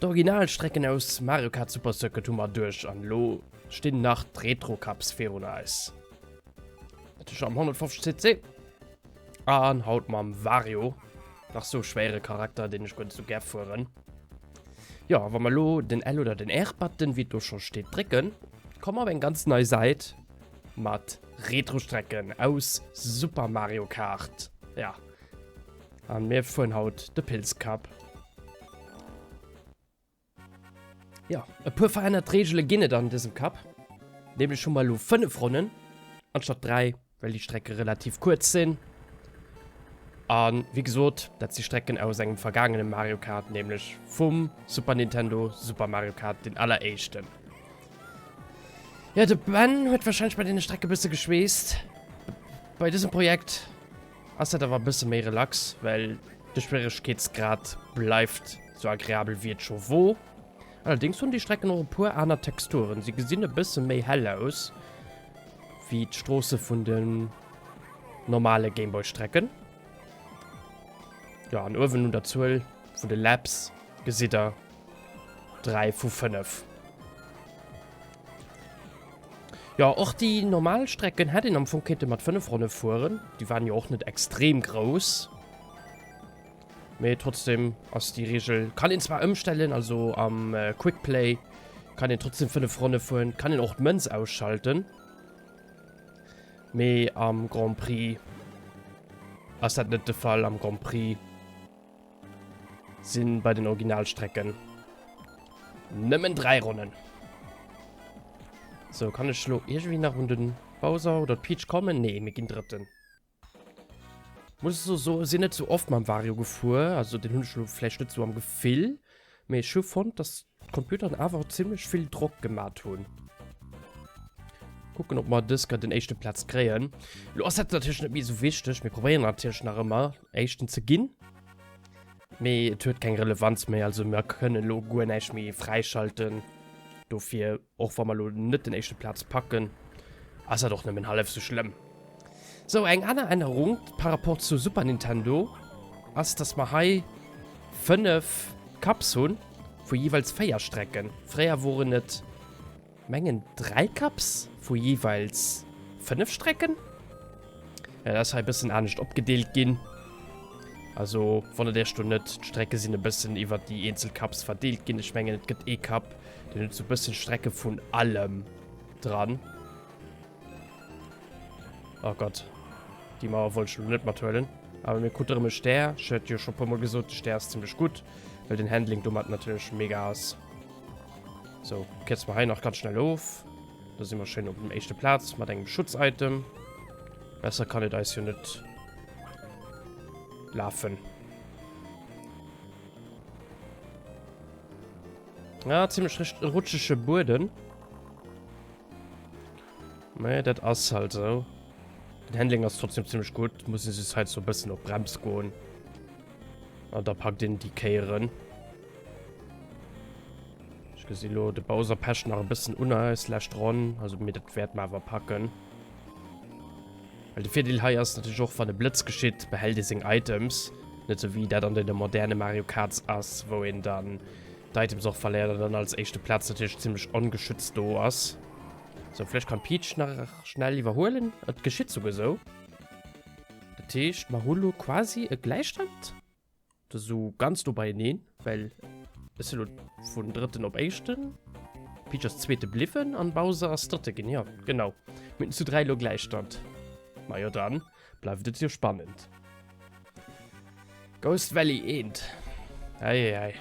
D'original Strecken aus Mario Kart Super Circuit hu mer duerch an lo stinn nach d'Retro Cups virun eis. Natierlech am 150cc an haut mam Wario, nach sou schwéiere Charakter, deen ech guer net sou gär fueren. Ja, wann wir lo den L oder den R-Button, wie do schon steht, drücken, kommen wir auf eng ganz neue Seite mit Retro-Strecken aus Super Mario Kart. Ja. Und mir fuhren haut de Pils Cup. Ja, e puer verännert Regele ginn et an diesem Cup. Nämlech hu mer lo 5 Ronnen anstatt 3. Well déi Strecke relativ kuerz sinn. A wéi gesot, dat si Strecken aus engem vergaangene Mario Kart, nämlech vum Super Nintendo Super Mario Kart, deen alleréischten. Jo, de Ben huet warscheinlech bei deene Strecke bësse geschweesst. Bei dësem Projekt ass dat awer e bësse méi relax, well de Schwieregkeetsgrad bleift sou agreabel wéi et scho wor. Allerdéngs hunn déi Strecken och e puer aner Texturen, si gesinn e bësse méi hell aus, Wéi d'Stroosse vun den normale Gameboy-Strecken. Ja, an uewen un der Zuel vun de Laps gesitt der 3 vu 5. Ja, och déi normal Strecken hätt een am Fong kéinte mat 5 Ronne fueren. Déi waren jo och net extrem grouss. Mee trotzdem ass déi Regel, kann een zwar ëmstellen, also am äh, Quick Play kann een trotzdem 5 Ronne fueren, kann een och d'Mënz ausschalten. Mee am Grand Prix ass dat net de Fall. Am Grand Prix sinn bei den Originalstrecken nëmmen 3 Ronnen. So, kann ech lo irgendwie nach un den Bowser oder Peach kommen? Nee, mir ginn Drëtten. Muss so so sinn net sou oft mam Vario gefuer, also den hunn ech lo vläicht net sou am Gefill, mee ech hu fonnt dass d'Computeren awer zimmlech vill Drock gemat hunn. Kucken op mer dës Kéier den éischte Platz kréien. Lo ass dat natierlech net méi sou wichteg, mir probéieren natierlech nach ëmmer éischten ze ginn, mee et huet keng Relevanz méi, also mer kënne lo guer näischt méi fräischalten dofir. Och wa mer elo net den éischte Platz packen, ass dat och nëmmen hallef sou schlëmm. Sou, eng aner Ännerung par rapport zu Super Nintendo ass, dass mer hei 5 Cups hunn, vu jeeweils 4 Strecken. Fréier woren et, mengen, 3 Cups vu jeeweils 5 Strecken. Ja, dat ass hei e bëssen anescht opgedeelt ginn. Also, wonnert Iech do net, d'Strecke sinn e bëssen iwwer déi eenzel Cups verdeelt ginn. Ech mengen, et gëtt ee Cup, deen huet sou e bëssen Strecke vun allem dran. Oh Gott. Déi Mauer wollt ech elo net mathuelen. Awer mir krute erëm e Stär. Ech hat jo scho e puermol gesot, de Stär ass zimmlech gutt, well den Handling domat natierlech mega ass. Sou, kierze mer hei nach ganz schnell of. Do si mer schéin op dem éischte Platz mat engem Schutz-Item. Besser kann et eis jo net lafen. Ja, ziemlich recht rutschige Boden. Nee, das ist halt so. Den Handling ist trotzdem ziemlich gut. Muss ich jetzt halt so ein bisschen auf Brems gehen. Und da packt den die Kehren. Ech gesi lo, de Bowser pecht nach e bëssen un eis lescht Ronn. Also, mee dat wäerte mer awer packen. Well de Virdeel hei ass natierlech och, wann e Blëtz geschitt, behält ee seng Items. Net esou wéi dat an deene moderne Mario Karts ass, wou een dann d'Items och verléiert an dann als éischte Plaz natierlech zimmlech ongeschützt do ass. Sou, vläicht kann d'Peach nach schnell iwwerhuelen. Et geschitt souguer esou. Dat heescht, mer hu lo quasi e Gläichstand? Das ist so ganz do beieneen, well es lo vun drëtten op éischten. Peach ass zweete bliwwen an Bowser ass drëtte ginn. Ja, genau. Mitten zu dräi lo Gläichstand. Ma jo dann, bleift et jo spannend. Ghost Valley eent. Eieiei.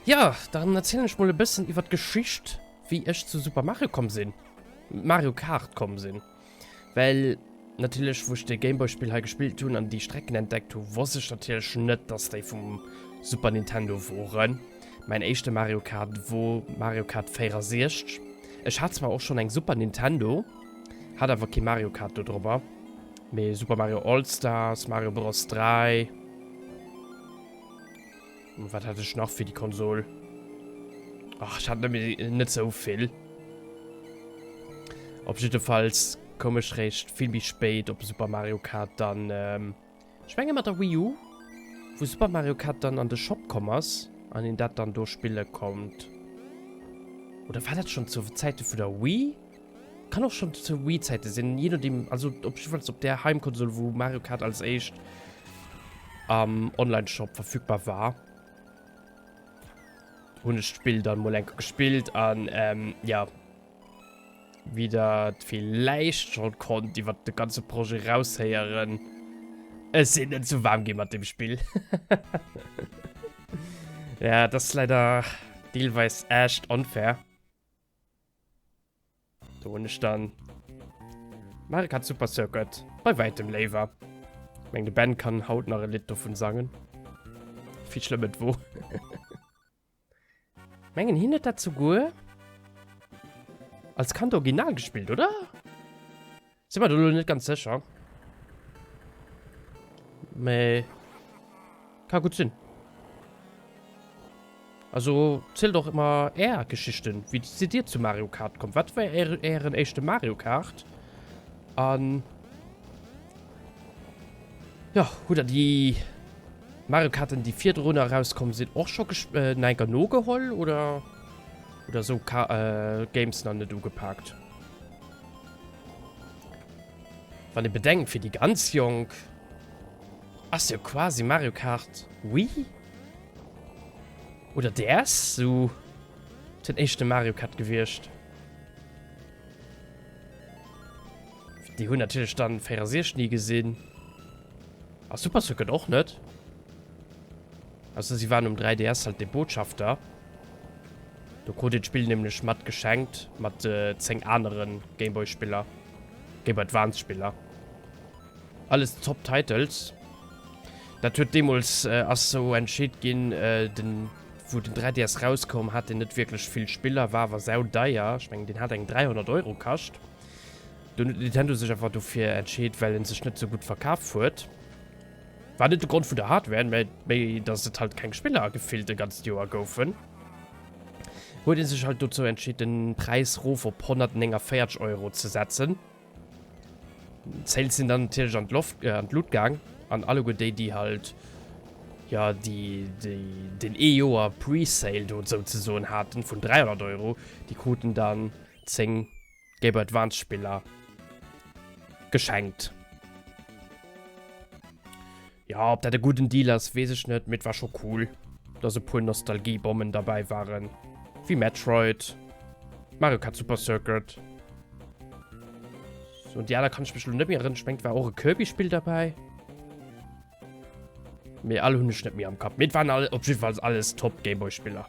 Ja, dann erzählen ich mal ein bisschen über die Geschichte, wie ich zu Super Mario gekommen bin. Mario Kart gekommen bin. Weil, natürlich, wo ich das Gameboy-Spiel hier gespielt habe und die Strecken entdeckt habe, wusste ich natürlich nicht, dass die vom Super Nintendo waren. Mein erster Mario Kart war Mario Kart 64. Ich hatte zwar auch schon ein Super Nintendo, hatte aber kein Mario Kart da drüber. Mee Super Mario All Stars, Mario Bros 3. Wat hat ech nach fir die Konsol? Ach, ich hat net so vill. Op jiddefalls komm ech réischt vill méi spéit op Super Mario Kart dann. Ähm, ech menge mat der Wii U, wou Super Mario Kart dann an de Shop komm ass, an een dat dann do spille konnt. Oder war dat schon zu Zäite vun der Wii? Kann och schon zu Wii Zeiten sinn, je nodeem, also op jiddwer Fall op der Heimkonsol wou Mario Kart als éischt am Online Shop verfügbar war, hunn ech d'Spill dann mol enke gespillt an ehm jo, wéi der et villäicht schon konnt iwwert de ganze Projet raushéieren, ech sinn net zu waarm ginn mat dem Spill hehehe, ja et ass leider deelweis echt unfair. Do hun ech dann Mario Kart Super Circuit bei weitem léiwer. Ich meng de Ben kann haut nach e Lidd dovun sangen. Wie schlëmm et wo. Mengen hin et dat souguer als Kand original gespielt, oder? Sinn mer do lo net ganz sécher. Mais. Ka gutt sinn. Also, zielt och emmer är Geschichten. Wéi sidd dir zu Mario Kart komm? Wat war är, ären éischte Mario Kart? An. Jo, hutt der déi. Mario Karten, déi virdrun erauskomm sinn, och scho gesp-, nach enker nogeholl? Oder. Oder esou Ka-, Games nach net ugepaakt? Wann ee bedenkt, fir déi ganz Jonk ass jo quasi Mario Kart Wii oder DS esou den éischte Mario Kart gewiescht. Déi hunn natierlech dann 64 ni gesinn. A Super Circuit och net. Ausser si waren um 3DS halt dee Botschafter. Do krut een d'Spill nämlech mat geschenkt, mat 10 aneren Gameboy Spiller, Gameboy Advance Spiller. Alles top Titles. Dat huet deemols äh, ass sou entscheet ginn, äh, den wou den 3DS rauskoum hat den net wierklech vill Spiller, war awer sau deier. Ech mengen den hat eng 300 Euro kascht. Dunn huet Nintendo sech einfach dofir entscheet, well en sech net sou gutt verkaf huet. War net de Grond vun der Hardware, mä méi dass et halt keng Spiller gefillt e ganzt Joer goufen, huet ee sech halt dozou entscheet den Präis rof op 149 Euro ze setzen. D'Sales sinn dann natierlech an d'Loft, an d'Luut gaang an alleguer déi déi halt jo déi déi den ee Joer Pre-Sale do souzesoen haten vun 300 Euro, déi kruten dann 10. Game Boy Advance Spiller geschenkt. Ja, ob dat e guten Deal ass, wees ech net, mit war scho cool, dass e puer Nostalgiebommen dabei waren. Wie Metroid, Mario Kart Super Circuit. So, und die aller kann ich mich nicht mehr rinschwenkt, war auch ein Kirby-Spiel dabei. Mir alle hun nicht mehr am Kopf. Mit waren alle, auf jeden Fall alles Top-Gameboy-Spieler.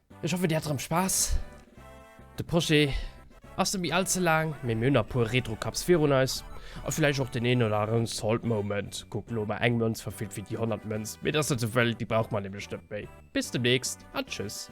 Ech hoffe dir hat rem Spass. De Projet ass net méi all ze laang, mee mir hunn nach puer Retro Cups virun eis a villäicht och deen een oder aneren Salt Moment. Kuckt elo emmer eng Mënz verfillt wéi déi honnert Mënz, mee et ass net souwëll, déi brauch mer nämlech net méi. Bis demnächst a tschüss.